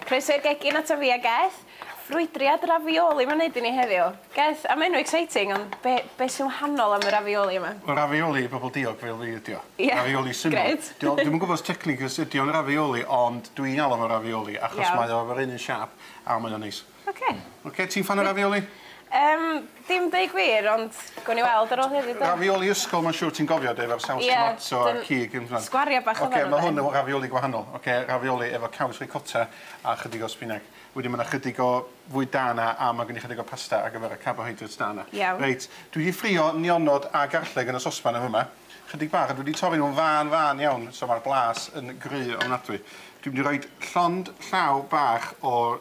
Croeso i'r gegin ato fi a Geth. Ffrwydriad ravioli ma'n neud i ni heddiw. Geth, am enw exciting ond be' be' sy'n wahanol am y ravioli yma? Wel ravioli i bobol diog fel fi ydi o. Ie. Ravioli syml. Grêt. Dio- dwi'm yn gwbo os technically os ydi o'n ravioli ond dwi'n galw fo ravioli achos... Iawn. ...mae o efo'r un un siâp a mae o'n neis. Oce. Oce ti'n ffan o ravioli? Yym dim deu gwir ond gown ni weld ar ôl heddiw 'de? Ravioli ysgol ma'n siŵr ti'n gofio de efo'r saws tomato a'r cig yn . Sgwaria bach odd e yfe? Oce ma' hwn efo ravioli gwahanol oce ravioli efo caws ricota a chydig o sbineg. Wedyn ma' 'na chydig o fwyd da 'na a ma' gen i chydig o pasta ar gyfer y carbohydrates da 'na. Iawn. Reit dwi 'di ffrio nionod a garlleg yn y sosban yn fy' 'ma. Chydig bach a dwi 'di torri nw'n fân fân iawn so ma'r blas yn gry ofnadwy. Dwi mynd i roid llond llaw bach o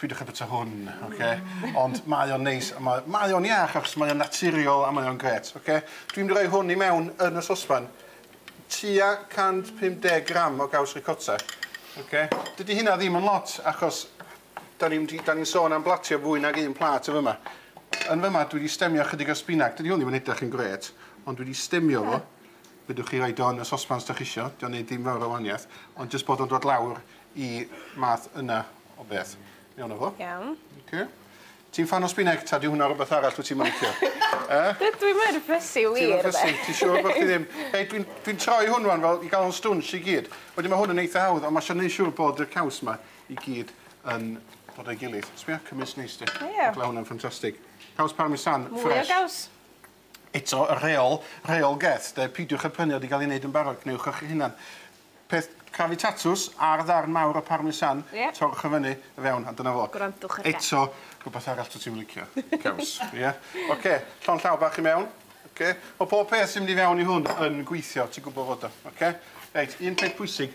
Peidiwch â bwyta hwn, oce? Ond mae o'n neis a mae... mae o'n iach achos mae o'n naturiol a mae o'n grêt, oce? Dwi'n mynd i roi hwn i mewn yn y sosban. Tua 150 gram o gaws ricotta, oce? Dydy hynna ddim yn lot achos 'da ni'n mynd i... 'da ni'n sôn am blatio fwy nag un plat yn f'yma. Yn f'yma dwi 'di stemio chydig o sbinag. Dydy hwn ddim yn edrych yn grêt, ond dwi 'di stemio fo. Fedrwch chi roid o yn y sosban os 'dach chi isio. 'Di o'n neud dim fawr o waniaeth, ond jyst bod o'n dod lawr y math yna o beth. Mewn â fo. Iawn. Oce. Ti'n ffan o spineg ta 'di hwnna rwbeth arall wyt ti'm yn licio? E? Dw- dwi mor fussy wir 'de. Ti mor fussy? Ti siŵr bo' chdi ddim? Hei dwi'n dwi'n troi hwn rŵan fel i ga'l o'n stwnsh i gyd. Wedyn ma' hwn yn eitha hawdd on' ma' isio neu' siŵr bod y caws 'ma i gyd yn dod o'i gilydd. Sbia cymysg neis 'di? Ie. Ma' hwnna'n ffantastig. Caws parmesan ffres. Mwy o gaws. Eto, y rheol, rheol geth, de, peidiwch â prynu o 'di gael ei wneud yn barod, gwnewch o chi'ch hunan. Peth crafu tatws, ar ddarn mawr o parmesan, Ie. torrwch o fyny, o fewn, a dyna fo. Gwrandwch ar geth. Eto, rhywbeth arall dwyt ti'm yn licio, caws, ie? Ocê, llond llaw bach i mewn, ocê? Mae pob peth sy'n mynd i fewn i hwn yn gweithio, ti'n gwybod fod o, ocê? Reit, un peth pwysig,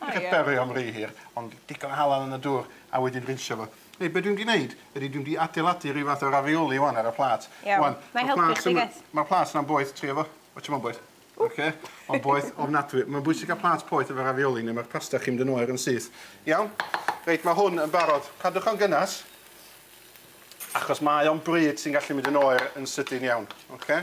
Hi ia. Cadberio am ry hir, ond digon o halen yn y dŵr a wedyn rinsio fo. Hei, be' dwi mynd i neud ydi dwi mynd i adeiladu ryw fath o ravioli ŵan ar y plat. Iawn. Ŵan, ma'r plat yma... Nâi helpu chdi Geth. ...ma'r plat yna'n boeth, tria fo. Watch hwn ma'n boeth. Oce? Ma'n boeth ofnadwy. Ma'n bwysig ca'l plat poeth efo ravioli ne' ma'r pasta chi'n mynd yn oer yn syth. Iawn? Reit, ma' hwn yn barod. Cadwch o'n gynnes, achos mae o'n bryd sy'n gallu mynd yn oer yn sydyn iawn. Oce?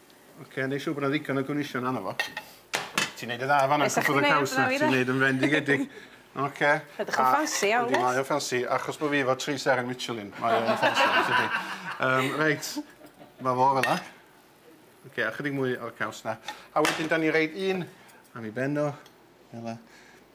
Ok, neu' siŵr bod 'na ddigon o gwneusion arno fo. Ti'n neud yn dda fan 'na cwmpo dy caws 'na ti'n neud yn fendigedig. Ok. Edrych yn ffansi iawn does? Yndi mae o'n ffansi achos bo' fi efo tri seren Michelin mae o'n ffansi yn tydi? Yym reit. Ma' fo fel 'a. Ok a chydig mwy o'r caws 'na. A wedyn 'dan ni roid un am i ben o fel 'a.